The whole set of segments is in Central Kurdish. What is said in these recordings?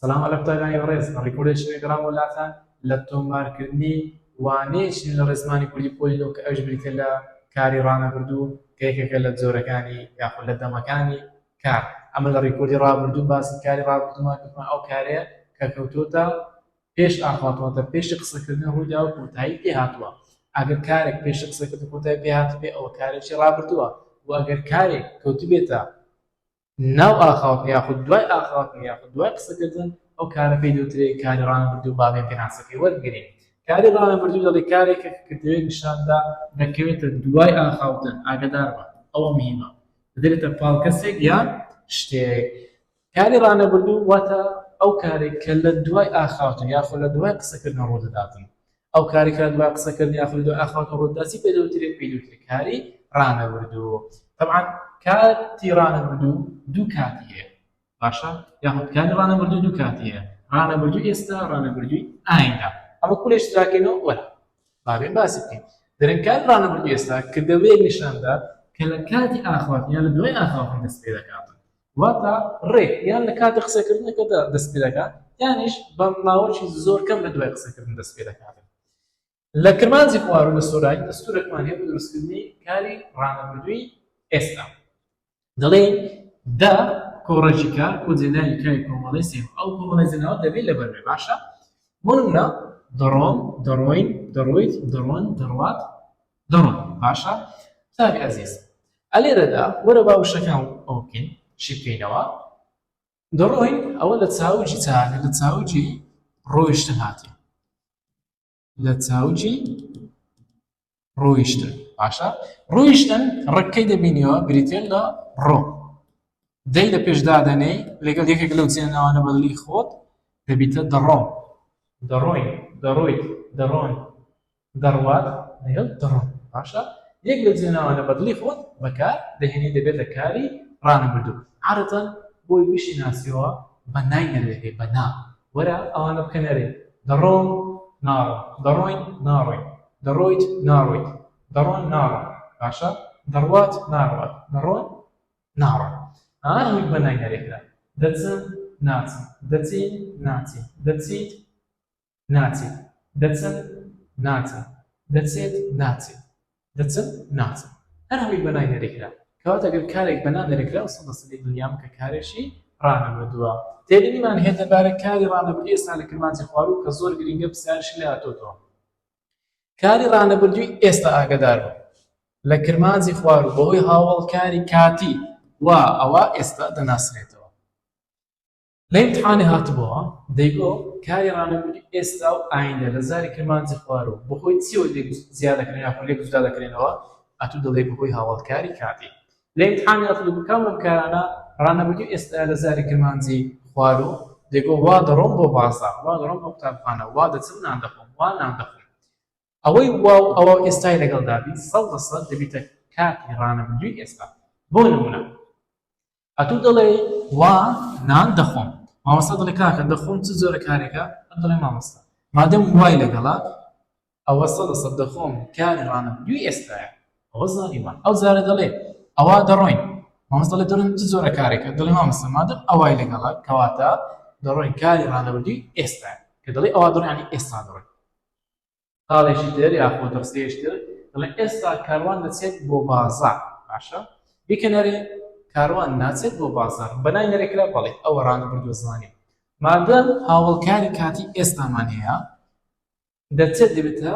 سەلام عەلەک تای لاهی بەڕێز ڕیکۆردێ شێوێ گەڕامەوە لاتان لە تۆمار کردنی وانەیە چین لە ڕێزمانی کوردی پۆلی نۆ کە ئەویش بریتیە لە کاری ڕانەبردوو کە یەکێکە لە جۆرەکانی یاخود لە دەمەکانی کار ئەمە لە ڕیکۆردی ڕابردوو باسی کاری ڕابردوومان کردمان ئەو کارەیە کە کەوتۆتە پێش ئاخواتواتە پێشی قسەکردن ڕوودا و کۆتایی پێ هاتووە ئەگەر کارێک پێشی قسەکردن کۆتای پێ هاتبێ ئەوە کارێکی ڕابردووە و ئەگەر کارێک کەوتبێتە ناو ئاخاوتن یاخود دوای ئاخاوتن یاخود دوای قسەکردن ئەو کارە پێی دەوترێ کاری ڕانەبردوو با بێ پێناسەکەی وەربگرین کاری ڕانەبردوو دەڵێ کارێکە کە کردوێ نیشاندا دەکەوێتە دوای ئاخاوتن ئاگادار بە ئەوە مهمە دەدرێتە پاڵ کەسێک یان شتێک کاری ڕانەبردوو واتە ئەو کارێک کە لە دوای ئاخاوتن یاخۆ لە دوای قسەکردن ڕوو دەداتن ئەو کاری کە دوای قسە کردنی ئاخوندی دوای ئاخواتو ڕووتدا چی پێ دەوترێ پێی دەوترێ کاری ڕانەوردو تەبعەن کاتی ڕانەوردو دوو کاتی هەیە باشە یاخود کاری ڕانەوردو دوو کاتی هەیە ڕانەوردو ئێستا ڕانەوردوی ئایندا ئەمە کولێش جاکەینەوە وەرە بابێ باسی بکەین دەرن کاری ڕانەوردو ئێستا کردەوەیەک نیشاندا کە لە کاتی ئاخواتنیان لە دوای ئاخاوتن دەست پێ دەکات واتە ڕێک یان لە کاتی قسەکردنەکەدا دەست پێ دەکات یانیش بە ماوەی زۆر کەم لە دوای قسەکردن دەست پێ دەکات لە کرمانجی خوار و لە سۆرانی دەستورێکمان هەیە بۆ دروستکردنی کاری ڕانەبردووی ئێستا دەڵێن دا کۆڕەژیکا بۆ جێناوی کاری کۆمەڵی سێم ئەو کۆمەڵی جێناوە دەبێت لەبەر بێ باشە بۆ نمونە دەڕۆم دەڕۆین دەڕۆیت دەڕۆن دەڕوات دڕۆن باشە چاک ئەزیز ئەلێرەدا وەرە با وشەکان ئەوە بکەین شی بکەینەوە دڕۆین ئەوە لە چاوجی چاکە لە چاوجی ڕۆیشتن هاتی لە چاوجی ڕۆیشتن باشە ڕۆیشتن ڕکەی دەبینیەوە بریتێن لە ڕۆ دەی لە پێشدادەنەی لەگەڵ یەکێک لەو چێنەوانە بەدلی خۆت دەبیتە دەڕۆم دەڕۆین دەڕۆیت دەڕۆن دەڕوات لەگەڵ دڕۆن باشە یەک لە جێناوانە بەدڵی خۆت بەکار دەهێنی دەبێتە کاری ڕانەبردوو عادەتەن بۆی بشی ناسیەوە بە نای نەروێگەی بە نا وەرە ئەوانە بکە نەرێ دەڕۆم ناڕۆ دەڕۆین ناڕۆین دەڕۆیت ناڕۆیت دەڕۆن ناڕۆن باشە دەڕوات ناڕوات دەڕۆن ناڕۆن ئەوانەوەی بە نای نەرێکرا دەچن ناچن دەچین ناچین دەچیت ناچێت دەچم ناچم دەچێت ناچێت دەچم ناچم هەر هەمووی بە نای نەرێکرا کەواتە گەر کارێک بە نا نەرێکراو سەد لە سەدی دنیام کە کارێکی ڕانەبردووە تێبینیمان هەیە دەربارە کاری ڕانەبردووی ئێستا لە کرمانجی خواروو کە زۆر گرینگە پرسیارشی لێ هاتۆتەوە کاری ڕانەبردووی ئێستا ئاگدار بوو لە کرمانجی خوار و بەهۆی هاوڵ کاری کاتی و ئەوە ئێستا دەناسرێتەوە لە ئیمتحانێ هاتبۆوە دەیگۆ کاری ڕانەبوونی ئێستا و ئایندە لە زاری کرمانجی خوار و بەهۆی چیەوە لێک جیا دەکرێن یاخود لێک جودا دەکرێنەوە ئەتوو دەڵێی بەهۆی هاوەڵکاری کاتی لە ئیمتحانی هاتبۆ بۆ کام لەم کارانە ڕانەبوونی ئێستا لە زاری کرمانجی خوار و دەیگۆ وا دەڕۆم بۆ بازاڕ وا دەڕۆم بۆ قوتابخانە وا دەچم نان دەخۆم وا نان دەخۆم ئەوەی وا و ئەوە ئێستای لەگەڵ دابی سەد لە سەد دەبیتە کاتی ڕانەبووی ئێستا بۆ نمونە ئەتو دەڵێی وا نان دەخۆم مامۆستا دەڵێ کاکە دەخۆم چ جۆرە کارێکە ئەت دەڵێ مامۆستا مادەم وای لەگەڵە ئەوە سەدە سەد دەخۆم کاری ڕانەبردووی ئێستایە ئەوە زانی وا ئەو جارە دەڵێ ئەوا دەڕۆین مامۆستا دەڵێ دەڕۆین چ جۆرە کارێکە دەڵێ مامۆستا مادەم ئەوای لەگەڵە کەواتە دەڕۆین کاری ڕانەبردووی ئێستایە کە دەڵێ ئەوا دەڕۆین یانی ئێستا دەڕۆین خاڵێکی تر یاخۆ دەستەیەکی تر دەڵێ ئێستا کاروان دەچێت بۆ بازاڕ باشە بیکەنەرێ کاروان ناچێت بۆ بازاڕ بەنای نەرێکرا بەڵێ ئەوە ڕانە بردو زمانی مادە هاوڵکاری کاتی ئێستامان هەیە دەچێت دەبێتە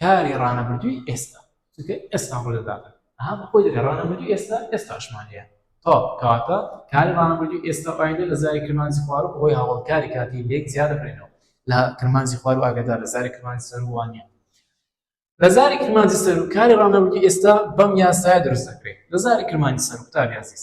کاری ڕانەبردووی ئێستا چونکە ئێستا ڕوو دەدات ئەها بە خۆی دەگە ڕانەبردوو ئێستا ئێستاشمان هەیە تا کاتە کاری ڕانەبردوو ئێستا ئایندە لە زاری کرمانجی خوارە بەهۆی هاوڵکاری کاتی لێک زیاد دەبرێنەوە لە کرمانجی خوار و ئاگدار لە زاری کرمانجی سەروانە لە زاری کرمانجی سەرکاری ڕانەبردوو ئێستا بەم یاسایە دروست دەکرێت لە زاری کرمانجی سەر قوتابی عزیز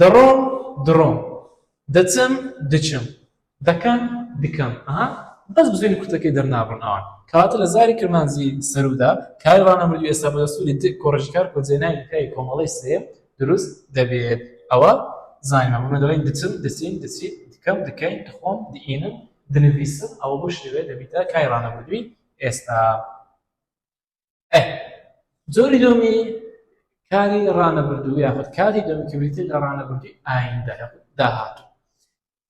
دەڕۆم، دڕۆم. دەچم، دچم. دەکەم، دکەم. ئەها بەس بزوێنی کورتەکەی دەرنابڕن ئەوان. کەواتە لە زاری کرمانجیی سەروودا کاری ڕانەبردووی ئێستا بە دەستووری دک کۆڕێکی کار کۆجێناوی لە پیاوی کۆمەڵەی سێیەم دروست دەبێت. ئەوە زانیمان. بۆ دەڵێین دچم، دچین، دچیت، دکەم، دکەین، دخۆم، دئینم، دنڤیسم. ئەوە بەو شێوەیە دەبیتە کاری ڕانەبردووی ئێستا. ئەه جۆری دومی کاری ڕانەبردوو یاخود کاری دومی کە بریتین لە ڕانەبردی ئایندە داهاتوو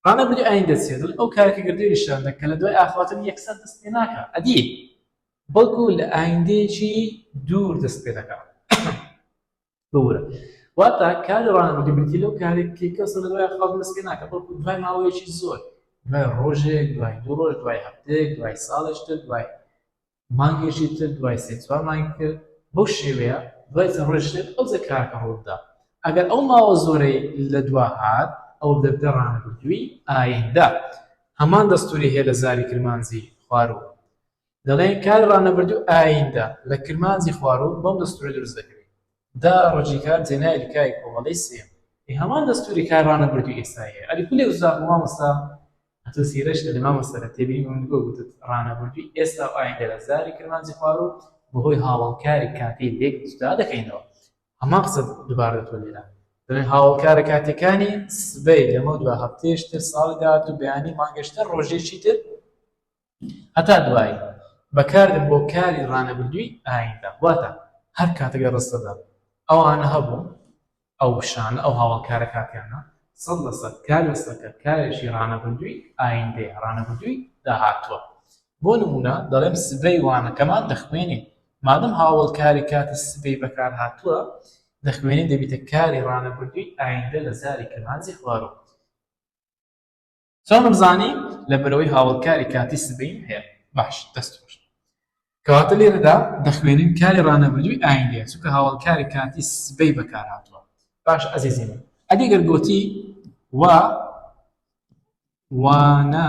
ڕانەبری ئایندە چێت ئەو کارێکی گردوی نیشاندە کە لە دوای ئاخواتن یەکسەر دەست پێ ناکە ئەدی بەڵکو لە ئایندەیەکی دوور دەست پێ دەکە بورە واتا کاری ڕانەبردی بریتی لەو کارێکی کەس لە دوای ئاخوات دەست پێ ناکە بەڵکو دوای ماوەیەکی زۆر دوای ڕۆژێک دوای دوو ڕۆژ دوای هەفتێک دوای ساڵێشتر دوای مانگێکی تر دوای سێ چوار مانگی تر بەو شێوەیە دوای چەند ڕۆژێک ئەو جە کارەکە ڕووبدا ئەگەر ئەو ماوە زۆرەی لە دوا هات ئەو دەبدە ڕانەبردووی ئایندە هەمان دەستوری هەیە لە زاری کرمانجی خواروو دەڵێن کاری ڕانەبردوو ئایندە لە کرمانجی خواروو بەم دەستورە دروست دەکرێت دا ڕەجی کار جێنای لکای کۆمەڵەی سێیەم ئێ هەمان دەستووری کار ڕانەبردووی ئێستایە ئەری کولێ وزاق بوو مامۆستا ئەتۆ سیرەج دەڵێ مامۆستا لە تێبینی من گۆ گوتت ڕانەبردووی ئێستا و ئایندە لە زاری کرمانجی خوارو بەهۆی هاوەڵکاری کاتی لێک جودا دەکەینەوە هەمان قسە دوبار دەتوە لێرە دەڵێن هاوەڵکارە کاتیەکانی سبەی لەمەو دوا هەفتەیەش تر ساڵی داهاتوو بەیانی مانگەش تر ڕۆژێکی تر هەتا دوایی، بەکاردێن بۆ کاری ڕانەبردووی ئایندە، واتە هەر کاتێک لە ڕستەدا ئەوانە هەبوون، ئەو وشانە، ئەو هاواڵکارە کاتییانە، سەد لە سەد کار لەسەکە کارێکی ڕانەبردووی ئایندەیە، ڕانەبردووی داهاتووە. بۆ نموونە، دەڵێم سبەی وانەکەمان دەخوێنین. مادەم هاوەڵکاری کاتی سبەی بەکار هاتووە، دەخوێنین دەبیتە کاری ڕانەبردووی ئایندە لە زاری کرمانجی خواروو. چۆنم زانی لەبەرەوەی هاوەڵکاری کاتی سبەیم هەیە باش دەست خۆش کەواتە لێرەدا دەخوێنین کاری ڕانەبردووی ئایندەیە چونکە هاوەڵکاری کاتی سبەی بەکار هاتووە باش ئەزیزی من ئەدی گەر گۆتی وا وانە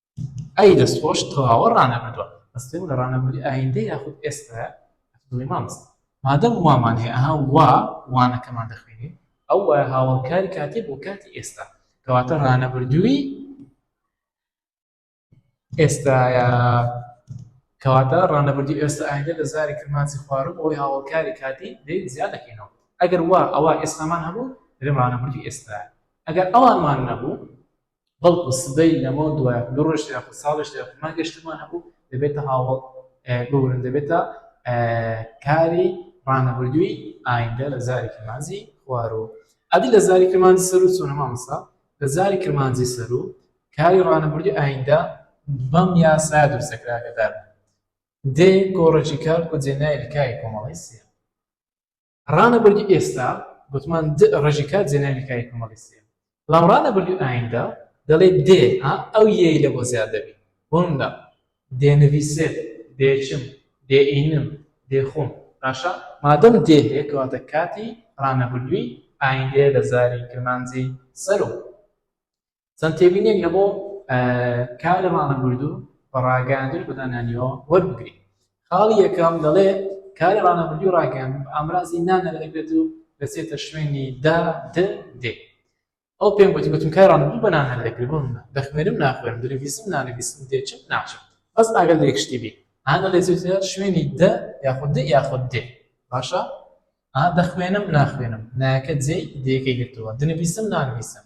ئەی دەست خۆش تەواوە ڕانەبردوە بەس پێم بڵێ ڕانەبردی ئایندە یاخود ئێستایە بڵێ مامۆستا مادەم وامان هەیە ئەها وا وانەکەمان دەخوێنین ئەو وایە هاوەڵکاری کاتێ بۆ کاتی ئێستا کەواتە ڕانەبردووی ئێستایە کەواتە ڕانەبردی ئێستا ئایندە لە زاری کرمانسی خوارم ئەوی هاوڵکاری کاتی دەی زیاد دەکەینەوە ئەگەر وا ئەوە ئێستامان هەبوو درێ ڕانەبردی ئێستا ئەگەر ئەوانمان نەبوو بەڵکو سبەی لەمەو دوایە دوو ڕۆژ یاخود ساڵێش یاخود مانگێش ترمان هەبوو دەبێتە هاوەڵ ببورن دەبێتە کاری ڕانەبردووی ئایندە لە زاری کرمانجی خوارو ئەدی لە زاری کرمانجی سەرو چۆنە مامەسا لە زاری کرمانجی سەرو کاری ڕانەبردی ئایندە بەم یاسا دروستەکراگەدار دێ گۆڕێکی کار و جێنای لکای کۆمەڵی سێ ڕانە بەرگی ئێستا گوتمان د ڕژی کات جێناوی کاری کۆمەڵی سێ بەڵام ڕانە بەرگی ئایندە دەڵێ دێ ها ئەو یەی لە بۆ زیاد دەبی بۆمدا دێنەویسێت دێچم دێ ئینم دێ خۆم باشە مادەم دێ هەیە کەواتە کاتی ڕانە بەرگی ئایندەیە لە زاری کرمانجی سەرۆ چەند تێبینیەک لە بۆ کار لە مانگە بردو بە ڕاگەیاندن بە دانانیەوە وەربگری خاڵی یەکەم دەڵێ کار لە مانگە بردو ڕاگەیان ئامرازی نانە لە دەگرێت و دەچێتە شوێنی دا د دێ ئەو پێم گوتی گوتم کار ڕانەبردو بە نان هەر دەگری بۆ منە دەخوێنم ناخوێنم دەلەڤیزم نانەویستم دێچم ناچم بەس ئاگەر لە یەک شتی بی هەندە لە زوتە شوێنی د یاخود د یاخود دێ باشە دەخوێنم ناخوێنم نایەکە جێی دەیەکەی گرتووە دنەویستم نانویستم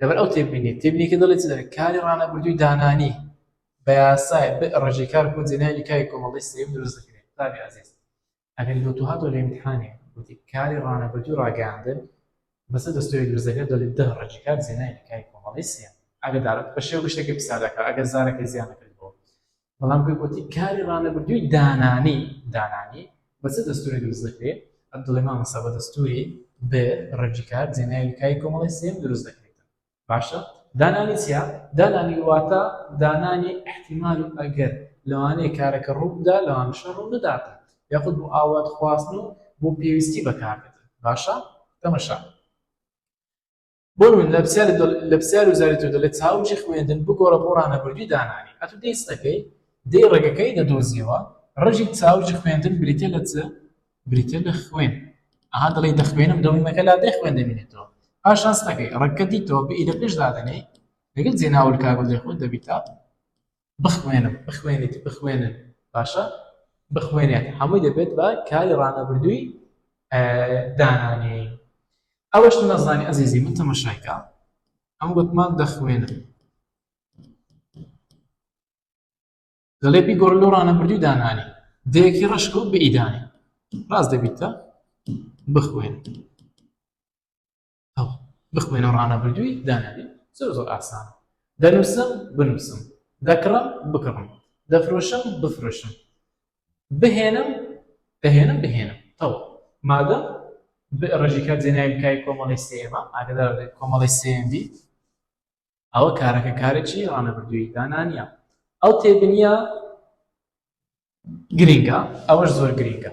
لەبەر ئەو تێبینی تێبینیکە دەڵێ چ دەڵێ کاری ڕانەبردووی دانانی بە یاسای ڕژی کار بۆ جێنای نکای کۆمەڵی سێم دروست دەکرێت قوتابی عزیز ئەگەر لۆ تو هاتۆ لە امتحانێ وتی کاری ڕانەبردووی ڕاگەیاندن بەسە دەستوری دروست دەکرێت دەڵێت دە ڕژی کار جێنای نکای کۆمەڵی سێم ئەگەر دارت بە شێوە گشتەکە پیسا دەکات ئەگەر زارەکە زیانەکە بەڵام پێ گوتی کاری ڕانەبردووی دانانی دانانی بە چ دەستوری دروست دەکرێت عبدڵێ مامەسا بە دەستوری بێ ڕێجی کار جێناوی کای کۆمەڵی سێم دروست دەکرێت باشە دانانی چیا دانانی واتە دانانی احتیمال و ئەگەر لەوانەیە کارەکە ڕووبدا لەوان شە ڕوو بداتە یاخود بۆ ئاوات خواستن و بۆ پێویستی بەکارێت باشە تەمەشا بۆ من لە پرسیار لە پرسیار و زاری تۆ دەڵێت چاوکی خوێندن بگۆڕە بۆ ڕانەبردووی دانانی ئەتو دەی سەکەی دەی ڕێگەکەی دەدۆزیەوە ڕژی چاوکی خوێندن بریتە لە چ بریتە لە خوێن ئەها دەڵێ دەخوێنم دەویمەکە لا دەی خوێن دەبینێتەوە پاشان سەکەی ڕەکە دیتەوە بە ئیدە پێش دادەنێ لەگەڵ جێناول کاگەڵ دەخوێن دەبیتە بخوێنم بخوێنیت بخوێنن باشە بخوێنێت هەمووی دەبێت بە کاری ڕانەبردووی دانانێین ئەوەش نەزانانی ئەزیزی من تەمەشایکە ئەم گوتمان دەخوێنم دەڵێ پێی گۆڕ لۆ ڕانەبردووی دانانی دەیەکی ڕشک و بئیدانی ڕاست دەبیتە بخوێن هەڵ بخوێنە و ڕانەبردووی دانەنێ زۆر زۆر ئاسان دەنووسم بنووسم دەکڕم بکڕم دەفرۆشم بفرۆشم بهێنم دەهێنم بهێنم تەوە مادەم ڕژی کار جێنای بکای کۆمەڵی سێمە ئاگدار کۆمەڵی سێم بیت ئەوە کارەکە کارێکی ڕانەبردووی دانانە ئەو تێبنیە گرینگە ئەوەش زۆر گرینگە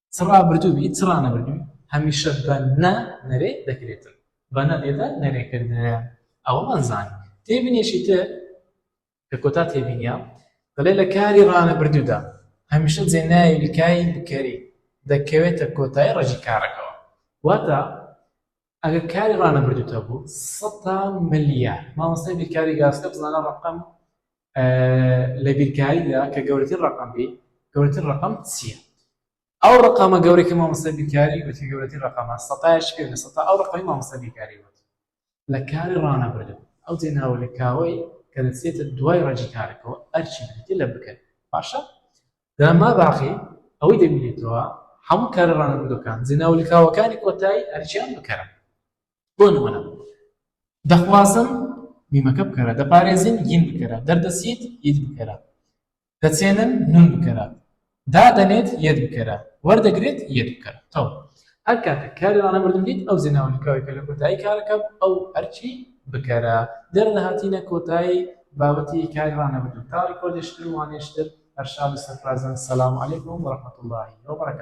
چ ڕابردووی چ ڕانەبردووی هەمیشە بە نە نەرێ دەکرێتن بە نە لێدە نەرێکردنیان ئەوەمان زان تێبینێکی تر کە کۆتا تێبینە دەڵێ لە کاری ڕانەبردوودا هەمیشە جێناوی بکای بکەری دەکەوێتە کۆتای ڕژی کارەکەەوە واتە ئەگەر کاری ڕانەبردوتە بوو سەتا ملیار مامۆستای بیرکاری گاسکە بزانە ڕقم لە بیرکاریدا کە گەورەتر ڕقم بی گەورەتر ڕقم چییە ئەو ڕقامە گەورەکە مامۆستا بیرکاری وتی گەورەتی ڕقامە سەتایش کرد لە سەتا ئەو ڕقەی مامۆستا بیرکاری وت لە کاری ڕانەبردو ئەو جێناوە لە کاوەی کە دەچێتە دوای ڕەجی کارەکەەوە ئەرچی بێتی لە بکەن باشە دەما باقی ئەوەی دەبینێتەوە هەموو کارە ڕانەبردوەکان زینا و لکاوەکانی کۆتایی ئەرچیان بکەرە بۆ نمونە دەخوازم میمەکە بکەرە دەپارێزین گین بکەرە دەردەسیت ئید بکەرە دەچێنن نون بکەرە دادەنێت یەت بکەرە وەردەگرێت یەت بکەرە تەوە هەر کاتێک کاری ڕانەبردن دیت ئەو زێناوە لکاوەی کە لە کۆتایی کارەکە بوو ئەو ئەرکی بکەرە دەر لە هاتینە کۆتایی بابەتی کاری ڕانەبردن تا ڕیکۆردێشتر و وانەیشتر هەر شاد و سەرفرازبن سلام علیکم و رحمت اللە و برکاته.